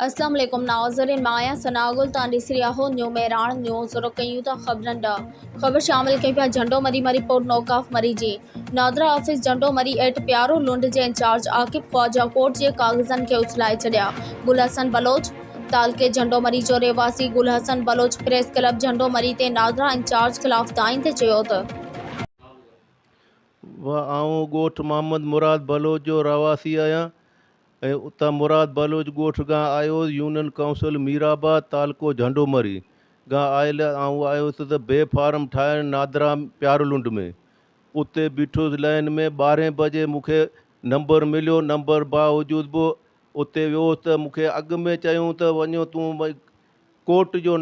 اسلام عليڪم ناظرين مان آهيان ثناء گل توهان ڏسي رهيا آهو نيو مهراڻ نيوز شروع ڪيون ٿا خبرن ڏهه خبر شامل ڪيون پيا جهنڊو مري مري پوٽ نوڪاف مري جي نادرا آفيس جهنڊو مري ايٽ پيارو لنڊ جي انچارج عاقب خواجا ڪورٽ جي ڪاغذن کي اڇلائي ڇڏيا گل حسن بلوچ تعلقي جهنڊو مري جو رهواسي گل حسن بلوچ پريس ڪلب جهنڊو مري تي نادرا انچارج خلاف دانهين تي چيو ته. وه آئون ڳوٺ محمد مراد بلوچ جو رهواسي آهيان ۽ اتان مراد بلوچ ڳوٺ کان آيو، يونين ڪائونسل ميرآباد، تعلقو جهنڊومري، کان آيل آئون آيس ته بي فارم ٺاهڻ نادرا پيارلنڊ ۾. اتي بيٺس لائين ۾ ٻارهين بجي مون کي نمبر مليو، نمبر باوجود به اتي ويس ته مون کي اڳ ۾ چيائون ته وڃو تون ڪورٽ جو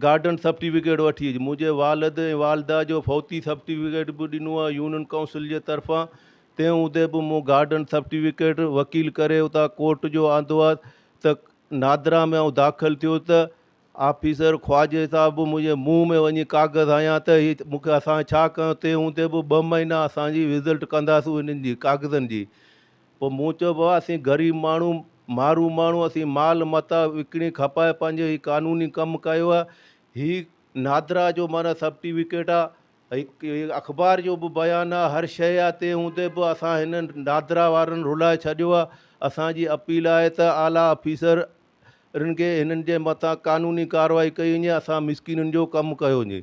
گارڊن سرٽيفڪيٽ وٺي اچ. منهنجي والد ۽ والده جو فوتي سرٽيفڪيٽ به ڏنو ۽ يونين ڪائونسل جي طرفان تنهن هوندي به مون گارڊن سرٽيفڪيٽ وڪيل ڪري اتان ڪورٽ جو آندو ها ته نادرا ۾ آئون داخل ٿيو ته آفيسر خواجي صاحب به منهنجي منهن ۾ وڃي ڪاغذ هنيا ته هي مون کي اسان ڇا ڪيو تنهن هوندي به ٻه مهينا اسان جي رزلٽ ڪنداسون هنن جي ڪاغذن جي پوء مون چيو، بابا اسين غريب ماڻهو، مارو ماڻهو، اسين مال متاع وڪڻي کپائي پنهنجو هي قانوني ڪم ڪيو آهي. هي نادرا جو معنيٰ سرٽيفڪيٽ آهي ۽ هي اخبار جو به بيان آهي، هر شيء آهي، تنهن هوندي به اسان هن نادرا وارن رلائي ڇڏيو آهي. اسان جي اپيل آهي ته اعليٰ آفيسرن کي هنن جي مٿان قانوني ڪارروائي ڪئي وڃي، اسان مسڪينن جو ڪم ڪيو وڃي.